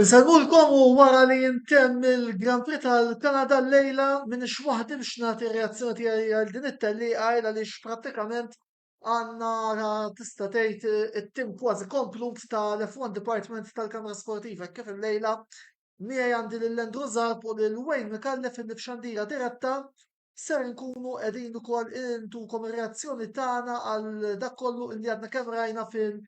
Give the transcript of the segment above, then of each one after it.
Insegħulkom u wara li jintemm il-Grand Prix tal-Kanada llejla m'iniex waħdi biex nagħti r-reazzjoni tiegħi għal din it-tellieqa il għaliex prattikament għandna ra tista' tgħid it-tim kważi komplut tal-F one Department tal-Kamra Sportiva hekk kif illejla miegħi għandi lil Andrew Zarb u lil Wayne Micallef illi f'xandira diretta ser inkunu qegħdin ukoll intukom ir-reazzjoni tagħna għal dak kollu illi għadna kemm rajna fil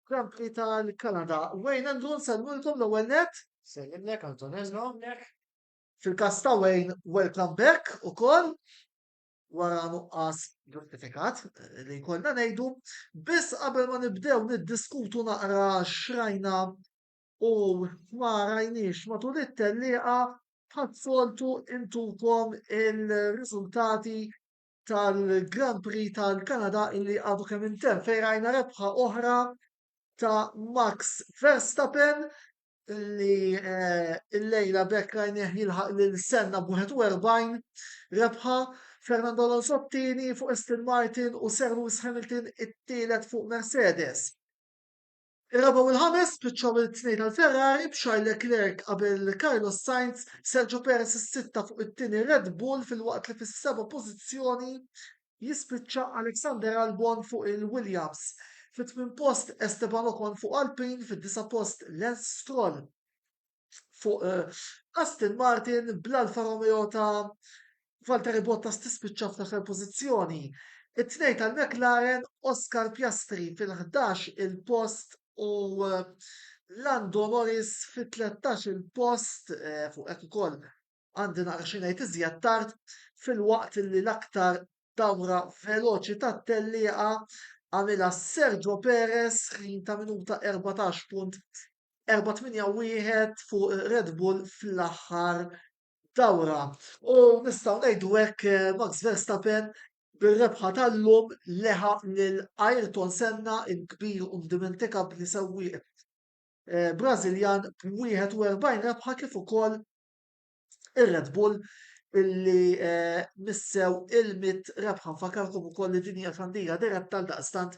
Kampli tal-Kanada. Wayne Andrew nsellmulkom l-ewwel net. Sellimlek Antonella hawnhekk. Fil-każ ta' Wayne, welcome back ukoll wara nuqqas ġustifikat li jkollna ngħidu. Biss qabel ma nibdew niddiskutu naqra xrajna u ma rajniex matul it-tellieqa bħas-soltu intukom il-riżultati tal-Grand Prix tal-Kanada illi għadu kemm intemm fejn rajna rebħa oħra ta' Max Verstappen li eh, il-lejla bekk rajnieh jilħaq lil Senna b'41 rebħa Fernando Alonso t-tieni fuq Aston Martin u Sir Lewis Hamilton it-tielet fuq Mercedes. Ir-raba' u l-ħames spiċċaw il-tnej tal-Ferrari b'Charles Leclerc qabel Carlos Sainz, Sergio Perez is-sitta fuq it-tieni Red Bull filwaqt li fis-seba' pożizzjoni jispiċċa Alexander Albon fuq il-Williams, fit-tmien post Esteban Ocon fuq Alpine, fid-disa' post Lance Stroll. fuq eh, Aston Martin bl-Alfa Romeo ta' Valtteri Bottas tispiċċa fl-aħħar pożizzjoni. It-tnej tal-McLaren Oscar Piastri fil-11 il-post u eh, Lando Norris fit-13 il-post eh, fuq hekk ukoll għandi naqra xi ngħid iżjed tard filwaqt li l-aktar dawra veloċi tat-tellieqa għamilha Sergio Perez ħin ta' minuta 14.481 fuq Red Bull fl-aħħar dawra. U nistgħu ngħidu hekk eh, Max Verstappen bir-rebħa tal-lum leħa lil Ayrton Senna il-kbir u ndimentika b'li sewwieq eh, Brażiljan b'41 rebħa kif ukoll ir-Red Bull illi eh, missew il-mit rebħa fakarkom ukoll li dinja xandira diretta tal daqstant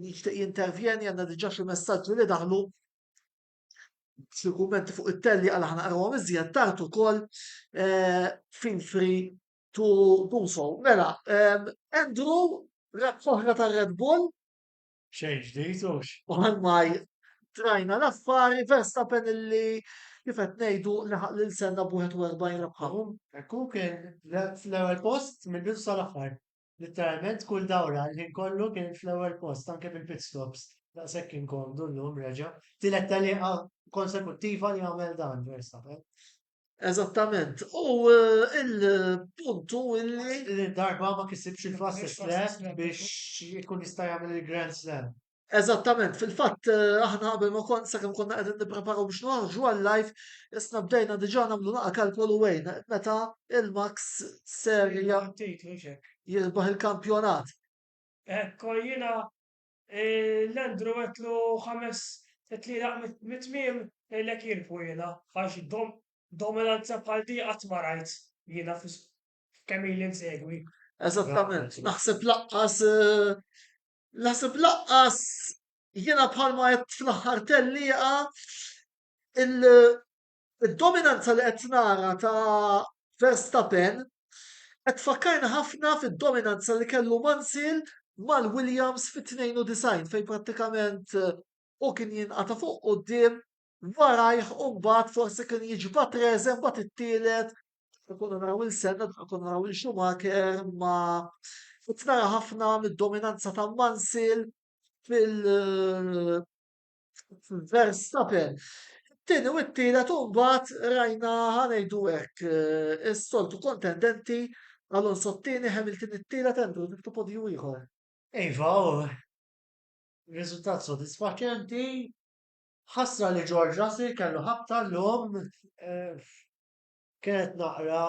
jixtieq jintervjeni għandna diġà xi messaġġi li daħlu xi kummenti fuq it-telli għal aħna qrawhom iżjed tard ukoll eh, feel free to do so. Mela, eh, Andrew, rebħ oħra tar-Red Bull, Xejn ġdid hux. Ormai trajna l-affari Verstappen illi kif qed ngħidu laħaq lil Senna b'41 rebħa. Hekk hu kien fl-ewwel post mill-bidu sal-aħħar. Litteralment kull dawra l-ħin kollu kien fl-ewwel post anke fil-pit stops. Daqshekk kien komdu llum reġa'. Tielet tellieqa konsekuttiva li jagħmel dan Verstappen. Eżattament. U eh, il-puntu illi. Li darba ma kisibx il-fast track biex ikun jista' jagħmel il-Grand Slam. Eżattament, fil-fatt eh, aħna qabel ma kont sakemm konna qegħdin nippreparaw biex noħorġu għal live, isna bdejna diġà nagħmlu naqa' kalkolu wejn meta il-Max ser jirbaħ il-kampjonat. Ekko jiena L-Andrew għedtlu ħames tlielaq mit-tmiem ngħidlek jien fuq jiena għax dominanza bħal di qatt ma rajt jiena f'kemm ili nsegwi. Eżattament, naħseb laqqas naħseb laqqas jiena bħalma għedt fl-aħħar tellieqa Id-dominanza li qed nara ta' Verstappen qed tfakkarni ħafna fid-dominanza li kellu Mansell mal-Williams fit-92 fejn prattikament hu kien jinqata' fuq quddiem warajh u mbagħad forsi kien jiġbad reżen mbagħad it-tielet konna naraw lil Senna konna naraw lil Schumacher imma qed nara ħafna mid-dominanza ta' Mansell fil Verstappen. Tieni u t-tielet u mbagħad rajna ħanejdu hekk eh, is-soltu kontendenti Alonso t-tieni, Hamilton it-tielet, Andrew niftu podju ieħor. Iva, riżultat sodisfaċenti, ħasra li George Russell kellu ħabta l-lum eh, kienet naqra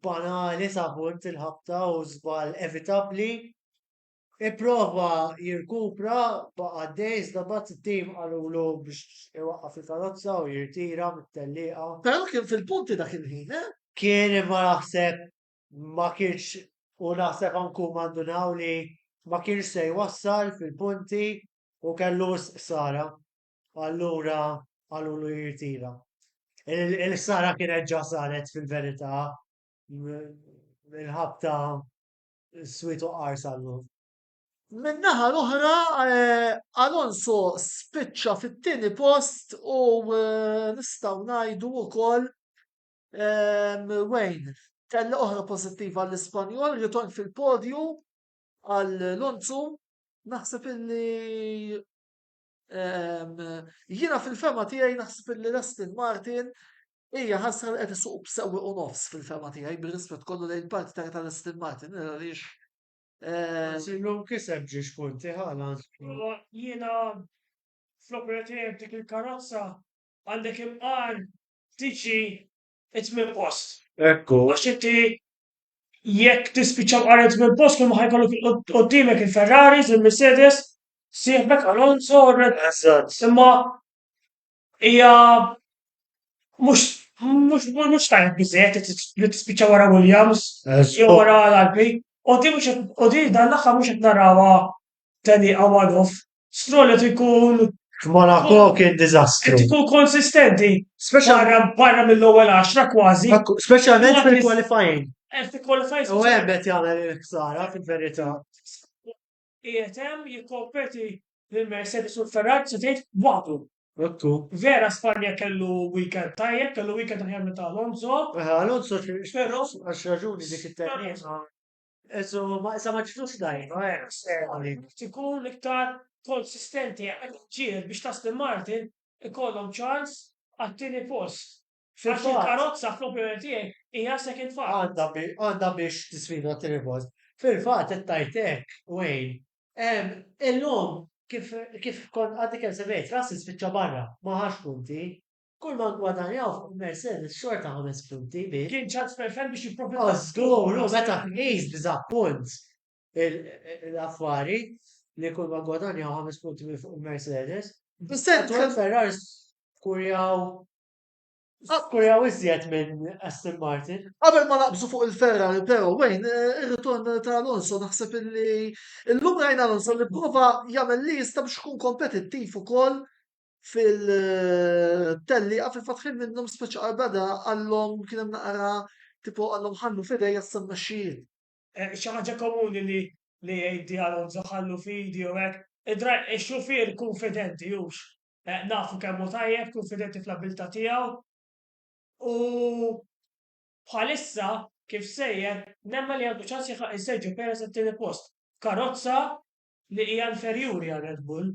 banali sa punt il-ħabta u żball evitabli Ipprova jirkupra, baqa' għaddej iżda mbagħad it-tim qalulu biex iwaqqaf il-karozza u jirtira mit-tellieqa. Però kien fil-punti dak il-ħin, eh? Kien imma naħseb ma kienx u naħseb anke huma ndunaw li ma kienx se jwassal fil-punti u kellu wisq ħsara, allura qalulu jirtira. Il-ħsara kienet ġa saret fil-verità minħabta Swiet u qarsa llum. Min-naħa l-oħra, Alonso spiċċa fit-tieni post u nistgħu ngħidu wkoll Wayne tella' oħra pożittiva għall-Ispanjol, ritorn fil-podju għal Lonzu. Naħseb illi jiena fil-fema tiegħi naħseb illi l-Aston Martin Hija ħasra li qed isuq b'sewwieq u nofs fil-fehma tiegħi bir-rispett kollu lejn il-parti ta' Ital Aston Martin għaliex Anzi llum kiseb ġiex punti Haaland. Jiena fl-opinjoni tiegħi b'dik il-karozza għandek imqar ftit xi t-tmien post. Ekku. Għax inti jekk tispiċċa mqar it-tmien post kull ma ħa jkollok qudiemek il-Ferraris, il-Mercedes, sieħbek Alonso u r-Red Bull. Eżatt. Imma hija mhux mhux mhux tajjeb biżejjed li tis- li tispiċċa wara Williams jew wara l-Alpi. U din mhux qed u din dan l-aħħar mhux qed narawha tellieqa one off. Stroll qed ikun F'Monaco kien qed diżastru. ikun konsistenti Speċjal- barra barra mill-ewwel għaxra kważi. Ak- Speċjalment Waqt li- fil-qualifying. Qed ikkwalifajs U hemm qed jagħmel il-ħsara fil-verità. Qiegħed hemm jikkompeti lil Mercedes u l-Ferrari se tgħid waħdu. Ottu. Vera Spanja kellu weekend tajjeb, kellu weekend aħjar minn ta' Alonso. Aha, Alonso xi Però- għax raġuni dik it-terrena. Eżo, ma issa ma ġietux dajfa, eh, Sterling. Irid ikun iktar konsistenti, qiegħed iġġieled biex l-Aston Martin ikollhom ċans għat-tieni post. Għax il-karozza fl-opinjoni tiegħi hija second fault. Għandha biex tisfida t-tieni post. Fil-fatt qed tgħid hekk, Wayne. Illum kif kont għadni kemm semmejt, Russell spiċċa barra, ma ħax punti. Kulma ngwadanjaw fuq il-Mercedes xorta ħames punti biss. Kien ċans perfett biex jipprofitta. O żgur, u meta tqis b'diżappunt l-affari li kulma ngwadanjaw ħames punti minn fuq il-Mercedes. Is-sentiment Ferrari kurjaw Akkuraw iżjed minn Aston Martin. Qabel ma naqbżu fuq il-Ferrari, però wejn ir-ritorn ta' Alonso naħseb illi illum rajna Alonso li prova jagħmel li jista' biex ikun kompetittiv ukoll fil-tellieqa fil-fatt ħin minnhom speċi qarbada għallhom kien hemm naqra tipo għallhom ħallu fidej għas-sem mexxijin. Eh, xi ħaġa komuni li li jgħid Alonso ħallu fidi u hekk. Id-xufier kunfidenti hux Nafu kemm hu tajjeb, kunfidenti fl-abbiltà tiegħu u bħalissa kif sejjer nemmen li għandu ċans jilħaq il-Sergio Perez għat-tieni post f'karozza li hija inferjuri għal Red Bull.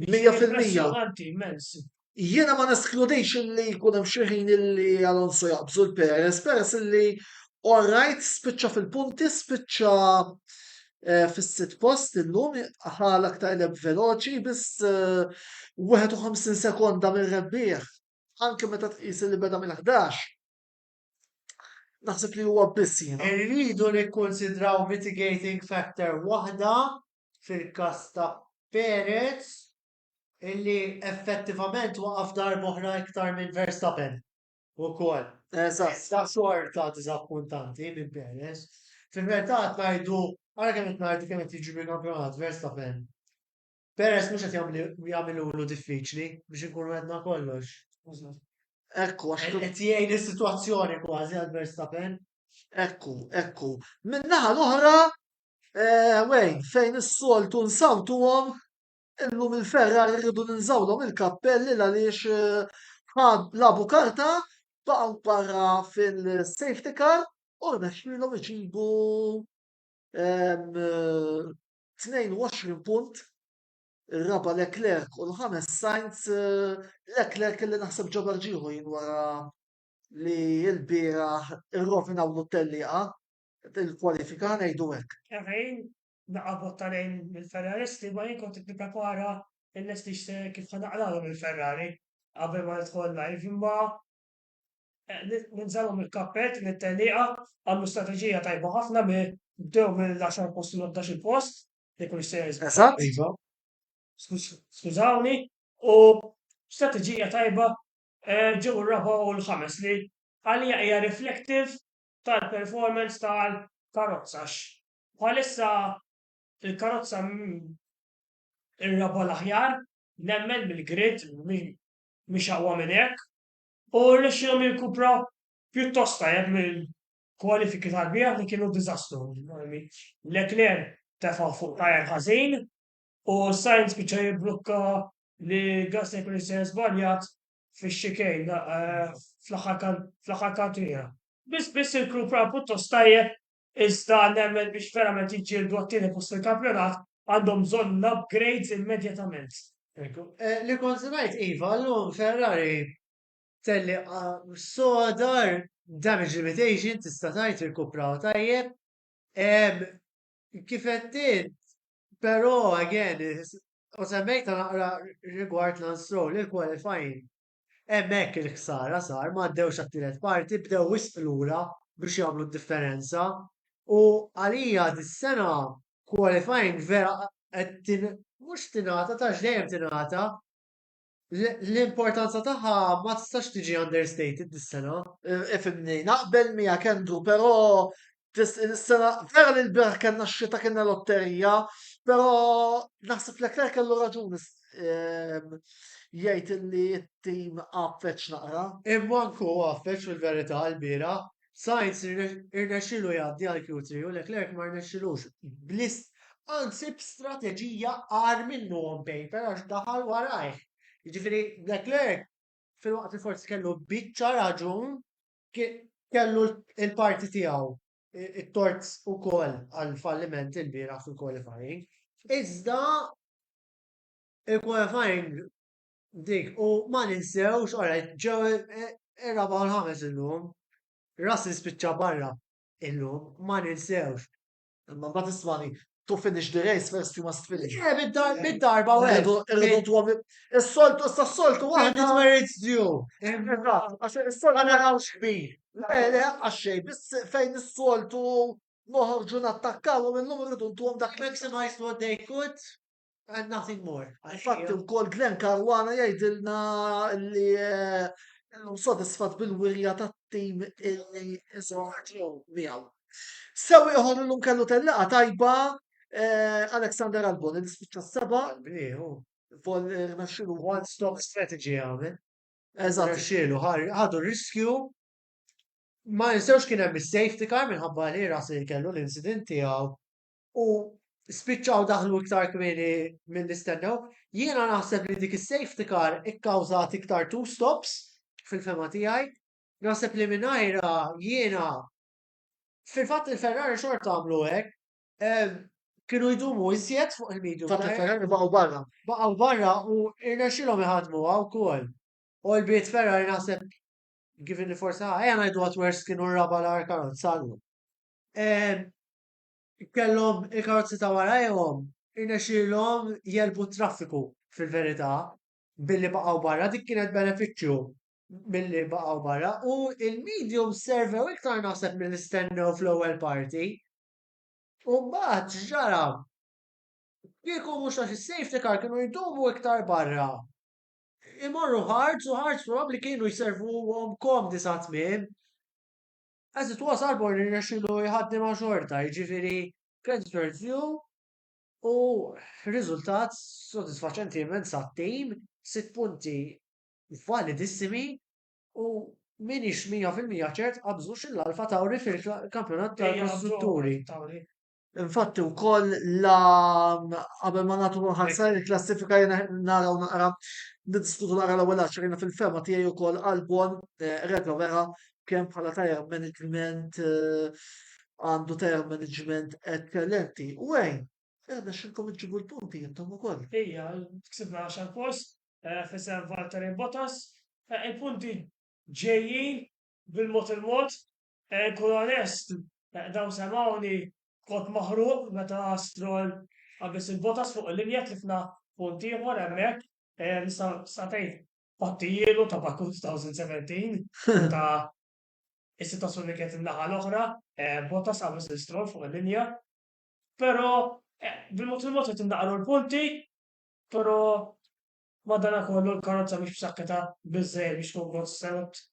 Mija fil-mija. Impressjonanti immens. Jiena ma neskludix li jkun hemm xi ħin li Alonso jaqbżu l-Perez, Perez li all right spiċċa fil-punti, spiċċa eh, fis-sitt post illum ħa l-aktar leb veloċi biss 51 eh, sekonda minn rebbieħ anke meta tqis li beda mill-11. Naħseb li huwa biss jiena. Irridu nikkonsidraw mitigating factor waħda fil-każ ta' Perez illi effettivament waqaf darba oħra iktar minn Verstappen. Ukoll. Eżatt. Ta' xorta diżappuntanti minn Perez. Fil-verità qed ngħidu, ara kemm qed ngħidu kemm qed jiġri kampjonat Verstappen. Perez mhux qed jagħmlu jagħmilulu diffiċli biex inkunu għedna kollox. Eżatt. Ekku għax Qed qed jgħin is-sitwazzjoni kważi għal Verstappen. Ekku, ekku. Min-naħa l-oħra, eh, Wayne, fejn is-soltu nsawtuhom, Illum il-ferrar irridu ninżawlhom il-kappelli għaliex eh, ħad labu karta baqgħu barra fil-safety car u rnexxilhom iġibu 22 eh, punt ir-raba Leclerc u l-ħames Sainz eh, Leclerc li naħseb ġabar ġieħu jien wara li l-bira irrovinaw l-tellieqa il-kwalifika ngħidu hekk. naqa' vot ta' lejn mill-Ferraristi imma jien kont qed nipprepara nlesti x'se kif ħa naqralhom il-Ferrari qabel ma nidħol live imma ninżagħlhom il-kappell din it-tellieqa għamlu strateġija tajba ħafna mi bdew mill-għaxar post u l-ħdax-il post li kienux se jiżgħu. Eżatt. Iva. Skużawni u strateġija tajba ġew ir-raba' u l-ħames li għalija hija reflective tal-performance tal-karozza għax Bħalissa il-karozza mhi r-raba' l-aħjar, nemmen, mill-grid, mhix aqwa minn hekk, u rnexxielhom jirkupraw pjuttost tajjeb mill-kwalifiki tal-bieraħ li kienu diżastru. Leclerc tefa' fuq tyre ħażin u Sainz spiċċa jibblukka li Gasly jkun jista' żbaljat fix-chicane fl-aħħar kantiera. Biss biss irkupra pjuttost tajjeb Iżda nemmen biex verament jiġġieldu għat-tieni post fil-kampjonat għandhom bżonn l-upgrades immedjatament. Li kont ngħid iva llum Ferrari tellieqa soda, damage limitation tista' tgħid irkupraw tajjeb. Kif għedt int, però again u semmejtha naqra rigward Lance Stroll, il-qualifying Hemmhekk il-ħsara sar, ma għaddewx għat-tielet parti, bdew wisq lura biex jagħmlu d-differenza u għalija dis-sena qualifying vera qed mhux tingħata ta' għax dejjem tingħata, l-importanza tagħha ma tistax tiġi understated dis-sena. Ifhimni, naqbel miegħek Andrew, però Is-sena vera li l-biraħ kellna x-xita kellna lotterija, però naħseb li Leclerc kellu raġuni ehm, jgħid li t-tim għaffeċ naqra. Imma nku għaffeċ fil-verità l-bira, Sainz irnexxilu jgħaddi għal Q3 u Leclerc ma rnexxilux blist anzi b'strateġija għar minnu on paper għax daħal warajh. Jiġifieri Leclerc fil-waqt li forsi kellu biċċa raġun kellu l-parti tiegħu it-tort ukoll għall-falliment ilbieraħ fil-qualifying. Iżda il-qualifying dik u ma ninsewx ora ġew ir-raba' u l-ħames illum. Russell spiċċa barra illum ma ninsewx. Imma mbagħad ismani to finish the race first you must finish. Eh, bid-darba u għedu. Is-soltu, s-soltu għahdi. It merits you. Għax il-soltu. Għana għaw xbir. Ele, għaxxej, bis fejn is-soltu noħorġu nattakkaw u minnum rridu ntuhom dak. Maximize what they could. And nothing more. Infatti wkoll Glenn Caruana jgħidilna li illum eh, sodisfat bil-wirja tat-tim illi iżgħu miegħu. Sew ieħor illum kellu tellaqgħa tajba eh, Alexander Albon li spiċċa seba. Vol rnaxxilu one stop strategy għamel. Eżatt. Rnaxxilu ħadu riskju ma jinsewx kien hemm is-safety car minħabba li ras li kellu l-incident tiegħu u spiċċaw daħlu iktar kmieni milli stennew. Jiena naħseb li dik is-safety car ikkawżat iktar two stops fil-fehma tiegħi. Naħseb li mingħajrha jiena fil-fatt il-Ferrari xorta għamlu hekk. Ehm, kienu jdumu iżjed fuq il-medium. Fatt il-Ferrari baqgħu barra. Baqgħu barra u irnexxilhom iħadmu wkoll. U l-bit Ferrari naħseb given li forsi ħajja ngħidu għat worst kienu raba l-ar karozza. Ehm, Kellhom il-karozzi ta' warajhom, irnexxielhom jegħlbu t-traffiku fil-verità billi baqgħu barra, dik kienet benefiċċju milli baqgħu barra u l-mediums servew iktar naħseb milli stennew fl-ewwel parti. U mbagħad x'ġara? Kieku mhux għax is-safety car kienu jdumu iktar barra. Imorru ħarġ u ħarġ probabbli kienu jservuhom komdi sa tmiem. As it was Arbor irnexxielu jħaddi ma' xorta, jiġifieri creditor due u riżultat sodisfaċenti immens għat-tim, sitt punti validissimi u m'iniex mija fil-mija ċert qabżux il-Alfa Tauri fil-Kampjonat tal-Kostrutturi. Infatti wkoll la qabel ma nagħtu ħarsa il-klassifika jiena naraw naqra niddiskutu naqra l-ewwel għaxar jiena fil-fema tiegħi wkoll Albon eh, reġa' vera kemm bħala tajr management eh, għandu tajr management eċċellenti. U għajn, għedna xilkom iġibu l-punti jintom u koll. Ija, ksibna għaxar post, eh, fissem Valtteri Bottas, eh, il-punti ġejjin bil-mot il-mot, Kun onest, dawn semgħuni b'kod maħruq meta Stroll qabeż lil Bottas fuq il-linja tlifna punt ieħor hemmhekk, nista' ngħid pattijielu ta' Baku 2017 meta s-sitwazzjoni kienet in-naħa l-oħra, Bottas qabeż lil Stroll fuq il-linja. Però bil-mod il-mod qed innaqru l-punti, però madanakollu l-karozza mhix b'saħħitha biżżejjed biex tkun konstant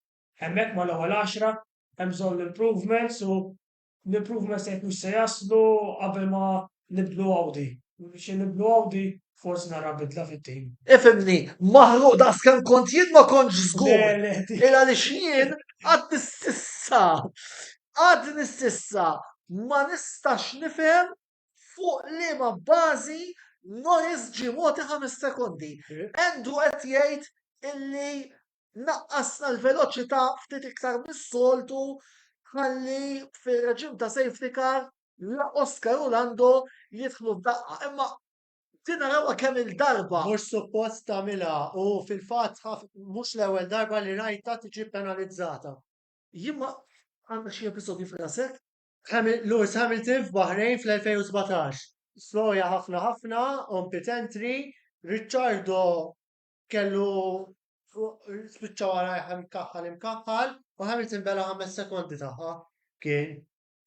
Hemmhekk mal-ewwel għaxra hemm bżonn l-improvements u l-improvements jekk mhux se jaslu qabel ma nibdlu Audi. Xi nibdlu Audi forsi nara bidla fit-tim. Ifhimni, maħruq daqs kemm kont jien ma kontx żgur. Il għaliex jien għadni s'issa, għadni s'issa ma nistax nifhem fuq liema bażi Norris ġie mogħti ħames sekondi. Andrew qed jgħid illi Naqqasna l-veloċità ftit iktar mis-soltu ħalli fir-reġim ta' safety car la Oscar u Lando jidħlu f'daqqa imma din narawha kemm il-darba. Mhux suppost tagħmilha u fil-fatt mhux l-ewwel darba li rajtha tiġi penalizzata. Jien ma għandha xi episodju f'rasek? Lewis Hamilton f'Bahrain fl-2017. Sloja ħafna ħafna on pit entry, Ricciardo kellu spiċċa warajh imkaħħal imkaħħal u Hamilton bela ħames sekondi tagħha. Kien.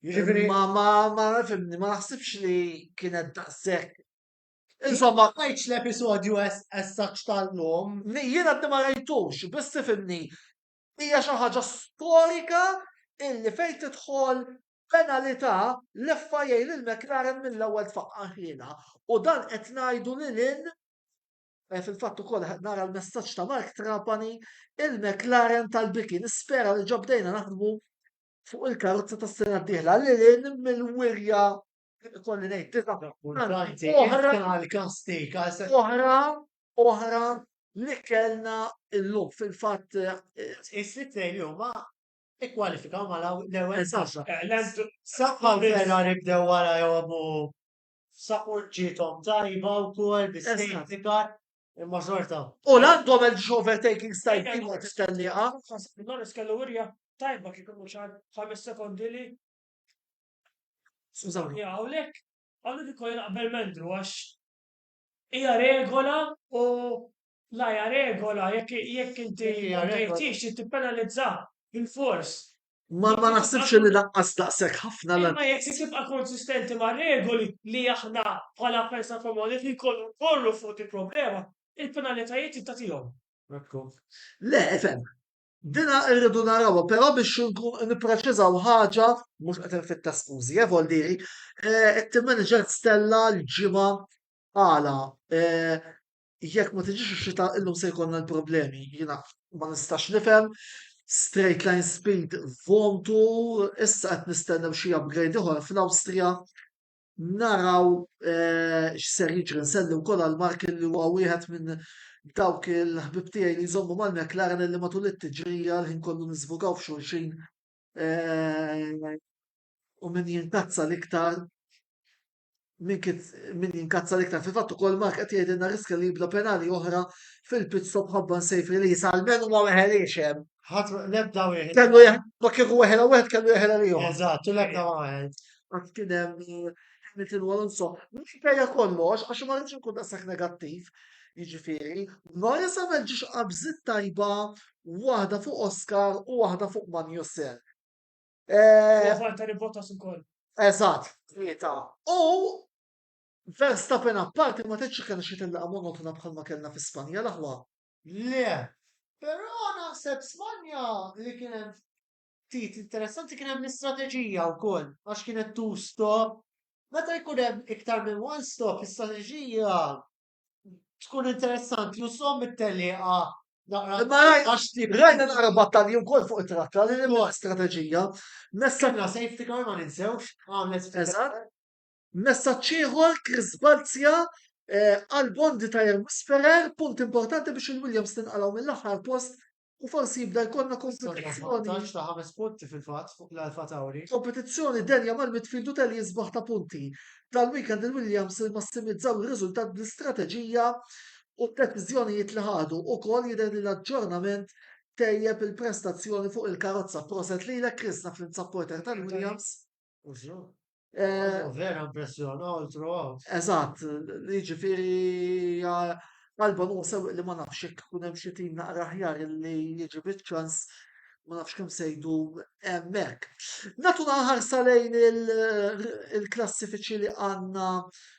Jiġifieri ma ma ma fimni ma naħsibx li kienet daqshekk. Insomma, ngħidx l-episodju essaċ tal-lum. Jiena għaddi ma rajtux, biss fimni. Hija xi ħaġa storika illi fejn tidħol penalità leffa jgħin il-McLaren mill-ewwel tfaqqa ħina. U dan qed ngħidu lil Eh, fil-fatt ukoll nara l-messaġġ ta' Mark Trapani il-McLaren tal-Biki. Nispera li ġobdejna naħdmu fuq il-karozza tas sena d-dieħla li lin mill-wirja kolli ngħid oħra oħra oħra li kellna illum fil-fatt eh, is-sitt lejn huma ikkwalifikaw ma l-ewwel saħħa. Eh, saħħa vera nibdew wara jgħomu F'Saport ġiethom tajba wkoll bi safety car, imma xorta. U Lando għamel xi overtaking style ieħor fit-tellieqa. Norris kellu wirja tajba kif imur xi ħames sekondi li. Skużawni. Ja, hawnhekk hawnhekk ukoll naqbel m'Andrew għax hija regola u La hija regola, jekk jekk inti Jekk hija ma regola. bdejtix trid tippenalizzah bilfors. Ma ma naħsibx li lanqas daqshekk ħafna la Imma jekk trid tibqa' konsistenti mar-regoli li aħna bħala Pensa Komuni li jkollu nkorru fuq din problema, il-penalitajiet trid tagħtihom. Ekku. Le, ifhem. Dina rridu narawha, però biex nkun nippreċiżaw ħaġa, mhux qed infittax skużi, eh, vol diri, eh, it-team manager stella l-ġimgħa għala, eh, Jekk ma tiġix ix-xita illum se jkollna l-problemi. Jiena ma nistax nifhem. Straight line speed vontu, issa qed nistennew xi upgrade ieħor fl-Awstrija. Naraw eh, x'ser jiġri nsellu wkoll għal Mark li huwa wieħed minn dawk il-ħbib tiegħi li jżommu mal-McLaren li matul it-tiġrija l-ħin kollu niżvugaw f'xulxin eh, u min jinkazza l-iktar min jinkazza l-iktar fil-fatt ukoll Mark qed jgħidilna riskja li jibda penali oħra fil-pit stop ħabba safe release għal menu ma weħeliex hemm. Ħadd l-ebda wieħed. Kellu ma kieku weħela wieħed kellu jeħela li jom. Eżatt, u l-ebda ma weħed. Għad kien hemm eh, Hamilton u Alonso. Mhux bejja kollox għax ma rridx nkun daqshekk negattiv. Jiġifieri, Norris għamel ġiex qabżit tajba waħda fuq Oscar u waħda fuq Magnussen. Eh, U Valtteri Bottas ukoll. Eżatt, tlieta. U Verstappen apparti ma tgħidx li kellna xi tellaqgħa monotona bħalma kellna fi Spanja l-aħwa. Le, però naħseb Spanja li kien hemm ftit interessanti kien hemm l-istrateġija wkoll għax kienet two stop. Meta jkun hemm iktar minn one stop, l-istrateġija tkun interessanti u som it-teliqa naqra. Imma raj- għax tip. Rajna naqra battalji wkoll fuq it-trakka li hemm Ukoll. strateġija. Messaġġ Sanna safety car ma ninsewx għamlet Eżatt. Messaġġ ieħor Chris Balzia eh, għal Bondi Tire Whisperer, punt importanti biex il-Williams tinqalgħu mill-aħħar post u forsi jibda jkollna kompetizzjoni ta' ħames punti fil-fatt fuq l-Alfa Tauri. Kompetizzjoni denja mal-midfield u telli jisbaħ ta' punti. Dal-weekend il-Williams massimizzaw ir-riżultat bl-istrateġija u d-deċiżjonijiet li ħadu ukoll jidher li l-aġġornament tejjeb il-prestazzjoni fuq il-karozza. Proset lilek Chris naf li nsab porter tal-Williams. Eh, vera impressjon, all throughout. Eżatt, jiġifieri għalba nusew li ma nafx jekk ikun hemm xi tim naqra aħjar li jiġi biċ-ċans ma nafx kemm sejdu hemmhekk. Natu ħarsa lejn il-klassifiċi li għandna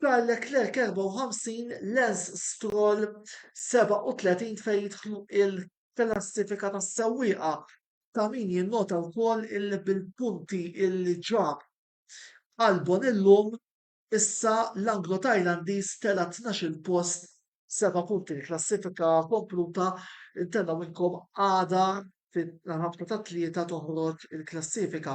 Charles Leclerc 54, Lance Stroll 37 fejn jidħlu il-klassifika tas-sewwieqa ta' min jinnota wkoll illi bil-punti illi ġab Albon illum issa l-Anglo-Tajlandiż tela' tnax-il post b'seba' punti. Il-klassifika kompluta ntellgħu minnkom għada fil-ħabta tat-Tlieta toħroġ il-klassifika.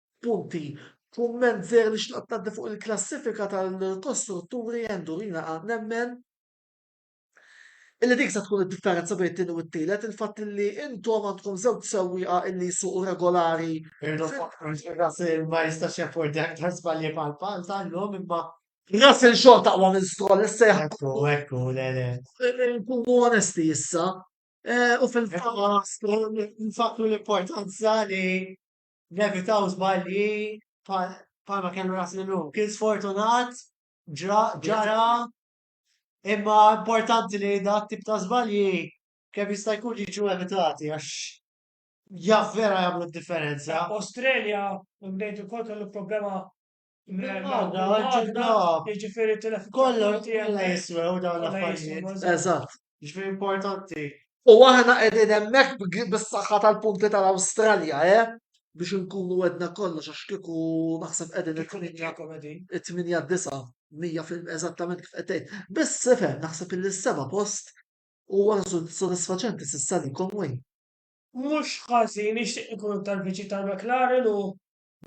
Punti, Kumment żgħir li xtaqt ngħaddi fuq il-klassifika tal-kostrutturi Endurina A nemmen illi dik se tkun id-differenza bejn it-tieni u t-tielet il-fatt illi intom għandkom żewġ sewwieqa illi jsuqu regolari. Irridu nfakkru li Russell ma jistax jaffordja aktar żbalji bħal bħal ta' llum imma Russell xorta aqwa minn Stroll issa jekk. Ekku, ekku, le le. Nkunu onesti issa u fil-fatt. Imma Stroll nfakkru l-importanza li Nevitaw żbalji bħalma kellu ras l Kien sfortunat, ġara, imma importanti li dak tip ta' żbalji kemm jista' jkun jiġu evitati għax jaf vera jagħmlu d-differenza. Australia, imbagħad ukoll kellu problema Għadda, għadda. Ġifiri telef. Kollu kollha jiswew dawn l-affarijiet. Eżatt. Ġifiri importanti. U aħna qegħdin hemmhekk bis-saħħa tal-punti tal-Awstralja, eh? Biex inkunu għedna kollox għax kieku naħseb qegħdin it-8 disa' mija fil eżattament kif qed Biss sifhem naħseb li s-seba' post huwa sodisfaċenti s'issa li Conway. Mhux ħażin nixtieq ikun tal-viċi tal-McLaren u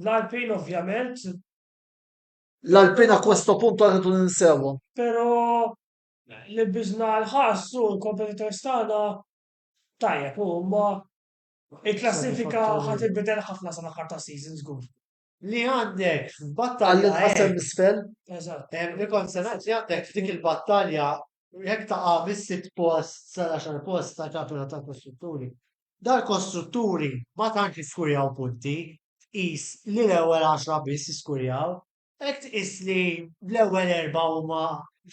L-Alpin ovvjament. L-Alpin a questo punto rridu ninsewhom. Pero li biżna l-ħass u l-kompetitor stana tajjeb u ma il-klassifika ħat il-bidel ħafna sa l-aħħar ta' season żgur. Li għandek f'battalja. Għalli tqassem l-isfel. Eżatt. Li kont se ngħid li għandek f'dik il-battalja Jekk taqa' mis-sitt post sal-għaxar post ta' kapital tal-kostrutturi, dal-kostrutturi ma tantx iskurjaw punti, tqis li l-ewwel għaxra biss iskurjaw. Hekk tqis li l-ewwel erbgħa huma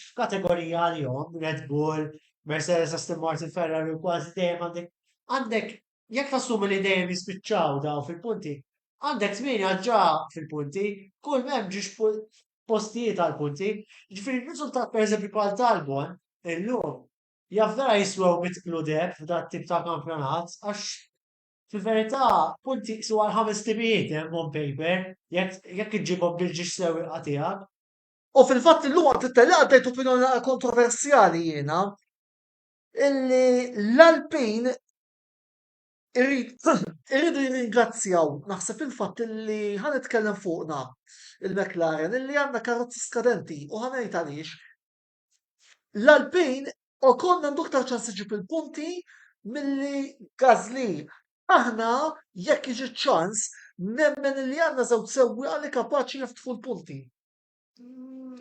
f'kategorija għalihom, Red Bull, Mercedes, Aston Martin, Ferrari u kważi dejjem għandek Jekk tassumi li dejjem jispiċċaw dawn fil-punti, għandek tmieni għax ġa fil-punti, kull ma hemm ġiex postijiet għall-punti, jiġifieri riżultat pereżempju bħal tal-Bonn illum, jaf vera jiswew mitt kludeb f'dat-tip ta' kampjonat għax fil-verità punti jqisuha għal ħames timijiet hemm on paper jekk iġġibhom bil-ġiex sewwieqa tiegħek. U fil-fatt illum għal Twitter li qaddejt opinjoni naqra kontroversjali jiena, illi l-Alpin irridu jirringrazzjaw, naħseb il-fatt illi ħa nitkellem fuqna il-McLaren illi għandna karozzi skadenti u ħa ngħid għaliex. L-Alpin Ocon għandu aktar ċans iġib il-punti milli Gasly. Aħna jekk iġi ċans nemmen illi għandna żewġ sewwieqa li kapaċi jiftħu l-punti.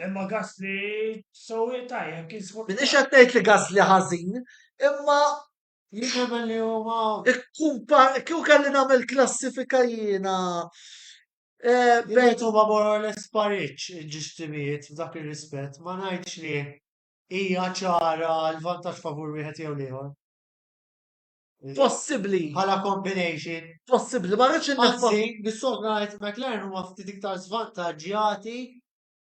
Imma Gasly sewwieq tajjeb kien sfortunat. Minix qed ngħid li Gasly ħażin, imma Jien nemmen li huma ikkumpa kieku kelli nagħmel klassifika jiena eh, bejn bejt huma more or less pariġġ il-ġustimijiet f'dak ir-rispett, ma ngħidx li hija ċara l-vantaġġ favur wieħed jew l-ieħor. Possibbli. Bħala combination. Possibbli, ma rridx inneffa. Anzi, nissolv ngħid McLaren huma ftit iktar żvantaġġjati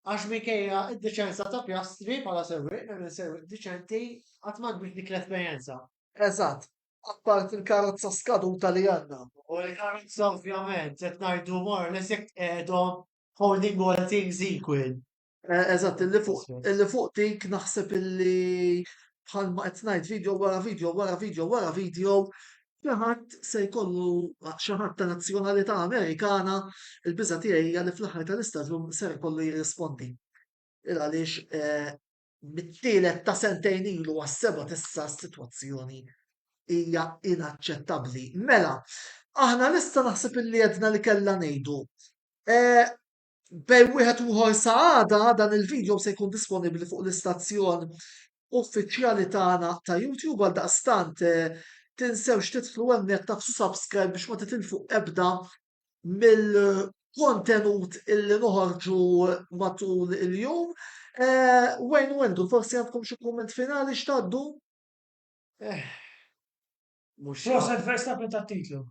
għax minkejja d-deċenza ta' Piastri bħala sewwieq, nemmen sewwieq deċenti, qatt ma kbirt dik l-esperjenza. Eżatt, apparti l-karozza skaduta li għandna. U l-karozza ovvjament qed ngħidu more or less jekk tqegħedhom holding all things equal. Eh, eżatt, illi fuq illi fuq dik naħseb illi bħalma qed ngħid video wara video wara video wara video xi ħadd se jkollu xi ħadd ta' nazzjonalità Amerikana il-biża' tiegħi hija li fl-aħħar tal-istaġun ser jkollu jirrispondi. Il għaliex eh, mit-tielet ta' sentejn ilu għas-seba' tissa s-sitwazzjoni hija inaċċettabbli. Mela, aħna nista' naħseb illi għedna li kellha ngħidu. Eh, Bejn wieħed u ieħor sa għada dan il-video se jkun disponibbli fuq l-istazzjon uffiċjali tagħna ta' YouTube għaldaqstant tinsewx tidħlu hemmhekk taqsu subscribe biex ma titilfu ebda mill-kontenut illi noħorġu matul il-jum. Eh, Wayne Wendu, forsi għandkom xi kumment finali x'tgħaddu? Eh. Mhux. Proset Verstappen ta' titlu.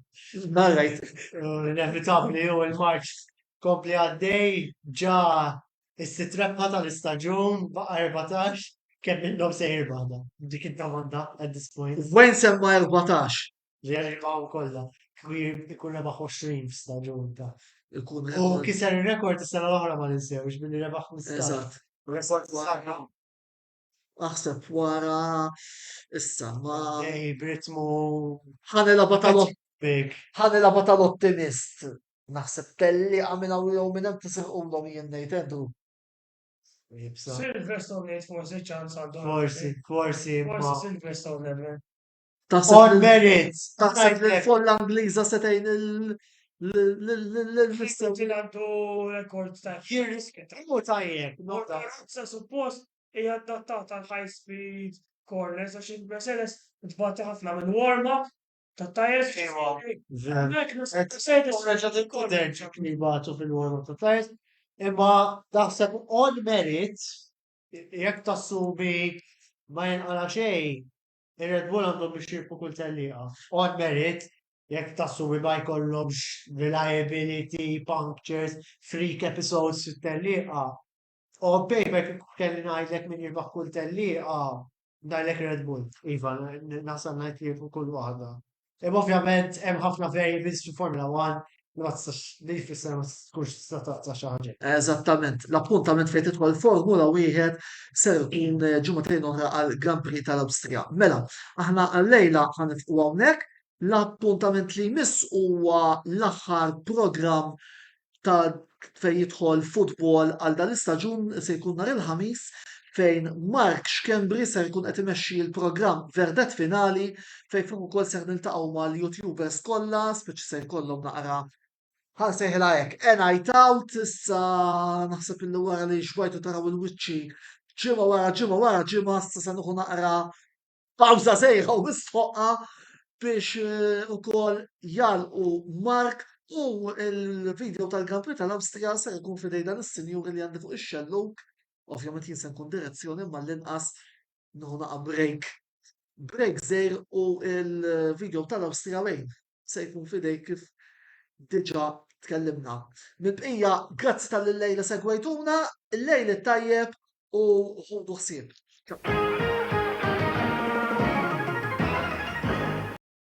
Narrajt. Inevitabli u l-marċ kompli għaddej ġa is-sitt rebħa tal-istaġun baqa' 14 kemm minnhom se jirbaħ dan. Dik id-domanda at this point. Wen semma 14? Li jirbaħu kollha. Kieku jkun rebaħ 20 f'staġun ta' Ikun U hemm. kiser ir-rekord is-sena l-oħra ma ninsewx billi rebaħ 15. Eżatt. Rekord sħaħ. Aħseb wara issa ma. Ej, b'ritmu. Ħani laba tal-ottimist. Ħani laba tal-ottimist. Naħseb telli għamil għaw jew minn hemm tisirqulhom jien ngħid Andrew. Silverstone ngħid forsi ċans għandhom. Forsi, forsi. Forsi Silverstone nemmen. Taħseb merit. Taħseb li l-folla Ingliża se tgħin l-mister. Ġilandu rekord ta' jiris kitamu tajjeb. Motorazza suppost hija adattata għal high speed corners għax il-Mercedes tbati ħafna minn warm-up ta' tajers. Mek Mercedes. Reġat il-koder ċekni batu fil-warm-up ta' tajers. Imma taħseb on merit jekk tassumi ma jenqala xejn Ir-Red Bull għandhom biex jirpu kull tellieqa. On merit, jekk tas-suwi ma jkollhomx reliability, punctures, freak episodes fit-tellieqa. On paper kieku kelli ngħidlek min jirbaħ kull tellieqa, ngħidlek Red Bull. Iva, naħseb ngħid li jirpu kull waħda. Imma ovvjament hemm ħafna variables fil-Formula One li ma tistax li jfisser ma tkunx tista' taqta' xi ħaġa. Eżattament. L-appuntament fejn tidħol Formula wieħed ser ikun ġimgħatejn oħra għal Grand Prix tal-Awstrija. Mela, aħna għallejla ħanifqu hawnhekk. L-appuntament li jmiss huwa l-aħħar programm ta' fejn jidħol futbol għal dan l-istaġun se jkun nhar il-Ħamis fejn Mark Schembri ser jkun qed imexxi l-programm Verdet Finali fejn fuq ukoll ser niltaqgħu mal-YouTubers kollha, speċi se jkollhom naqra ħan sejħilha hekk, a night out, issa naħseb illi wara li xbajtu taraw il-wiċċi ġimgħa wara ġimgħa wara ġimgħa, issa se nuħu naqra Pawza sejħa u mistħoqqa biex eh, ukoll jalqu Mark u l-video tal-Grand Prix tal-Awstrija se jkun fidej dan is-sinjur li għandi fuq ix-xelluk. Ovvjament jien se nkun direzzjoni ma l-inqas nħuna break. Break zejr u l-video tal-Awstrija wejn se jkun f'idejk kif diġà tkellimna. Mill-bqija, grazzi tal-li lejla segwejtuna, il-lejl it-tajjeb u ħudu ħsieb.